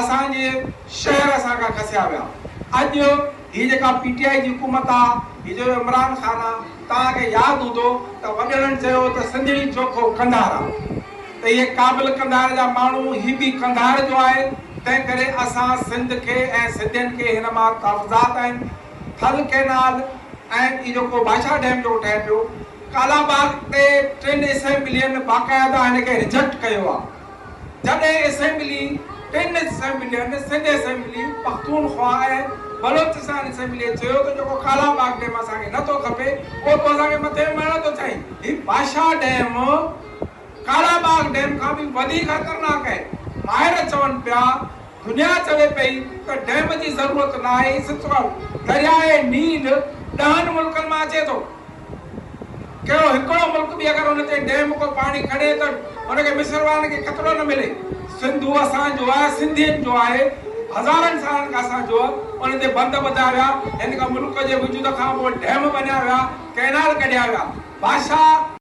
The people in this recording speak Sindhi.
اسان جي شهر اسان کان کسيا ويا اڄ هي جيڪا پي ٽي آئي جي حڪومت آ هي جو عمران خان آ توهان کي ياد هوندو ته وڏڙن چيو ته سنڌڙي چوکو قنڌار آ ته هي قابل قنڌار جا ماڻهو هي به قنڌار جو آهي تنهن ڪري اسان سنڌ کي ۽ سنڌين کي هن مان تحفظات آهن ٿل ڪينال ۽ هي جيڪو بادشاهه ڊيم جيڪو ٺهي پيو ڪالاباغ تي ٽن اسيمبلين باقاعده هن کي رجيڪٽ ڪيو آ. جڏهن اسيمبلي ٽن اسيمبلين سنڌ اسيمبلي، پختونخوا ۽ بلوچستان اسيمبليء چيو ته جيڪو ڪالا باغ ڊيم اسان کي نه ٿو کپي اهو تون اسان کي مٿي مهڻ ٿو چاهين. هي باشاهه ڊيم ڪالا باغ ڊيم کان به وڌيڪ خطرناڪ آهي. ماهر چون پيا دنيا چوي پئي ته ڊيم جي ضرورت ناهي، ستوئر، درياهه نيل، ڏهن ملڪن مان اچي ٿو. ڪهڙو هڪڙو ملڪ به اگر ان تي ڊيم ڪو پاڻي کڻي ته ان کي مصر وارن کي خطرو نه ملي. سنڌو اسان جو آهي، سنڌين جو آهي، هزارن سالن کان اسان جو، ان تي بند ٻڌا ويا، هن کان ملڪ جي وجود کان پوء ڊيم بنيا ويا، ڪئنال ڪڍيا ويا، بادشاهه،